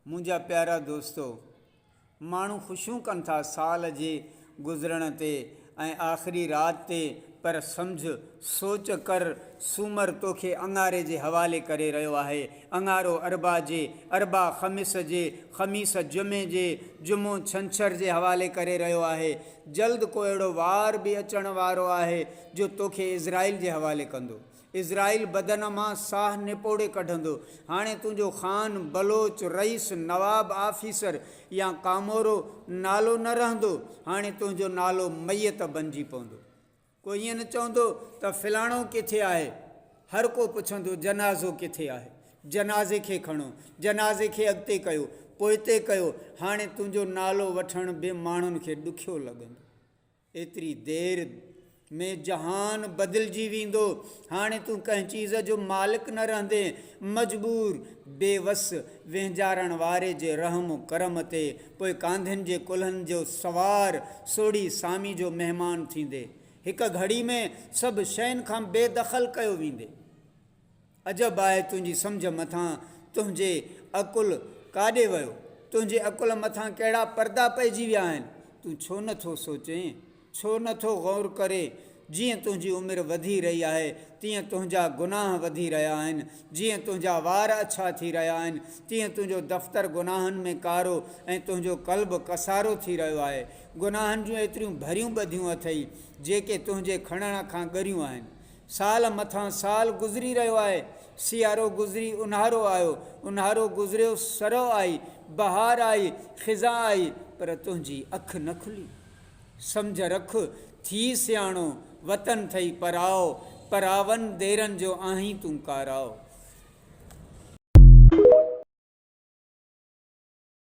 منهنجا پيارا دوستو! ماڻهو خوشيون ڪن ٿا سال جي گذرڻ تي ۽ آخري رات تي پر سمجهه، سوچ ڪر سومر توکي اڱاري جي حوالي ڪري رهيو آهي، اڱارو اربع جي، اربع خميس جي، خميس جمعي جي، جمعو ڇنڇر جي حوالي ڪري رهيو آهي. جلد ڪو اهڙو وار به اچڻ وارو آهي جو توکي عزرائيل جي حوالي ڪندو. اسرائيل بدن مان ساهه نپوڙي ڪڍندو. هاڻي تنهنجو خان، بلوچ، رئيس، نواب، آفيسر يا ڪامورو نالو نه رهندو. هاڻي تنهنجو نالو ميت بنجي پوندو. ڪو ائين نه چوندو ته فلاڻو ڪٿي آهي. هر ڪو پڇندو جنازو ڪٿي آهي. جنازي کي کڻو. جنازي کي اڳتي ڪيو. پوئتي ڪيو. هاڻي تنهنجو نالو وٺڻ به ماڻهن کي ڏکيو لڳندو. ايتري دير ۾ جهان بدلجي ويندو. هاڻي تون ڪنهن چيز جو مالڪ نه رهندين. مجبور، بي وس، وهنجارڻ واري جي رحم و ڪرم تي پوء ڪانڌين جي ڪلهن جو سوار، سوڙهي سامي جو مهمان ٿيندين. هڪ گهڙي ۾ سڀ شين کان بي دخل ڪيو ويندين. عجب آهي تنهنجي سمجهه مٿان تنهنجي عقل ڪاڏي ويو؟ تنهنجي عقل مٿان ڪهڙا پردا پئجي ويا آهن؟ تون ڇو نه ٿو سوچين؟ ڇو نه ٿو غور ڪرين؟ جيئن تنهنجي عمر وڌي رهي آهي تيئن تنهنجا گناهه وڌي رهيا آهن، جيئن تنهنجا وار اڇا ٿي رهيا آهن تيئن تنهنجو دفتر گناهن ۾ ڪارو ۽ تنهنجو قلب ڪسارو ٿي رهيو آهي. گناهن جون ايتريون ڀريون ٻڌيون اٿئي جيڪي تنهنجي کڻڻ کان ڳريون آهن. سال مٿان سال گذري رهيو آهي، سيارو گذري اونهارو آيو، اونهارو گذريو سرء آئي، بهار آئي، خزان آئي، پر تنهنجي اک نه کلي. سمجهه رک، ٿي سياڻو، وطن ٿئي پراء، پراون ديرن جو آهين تون ڪاراء.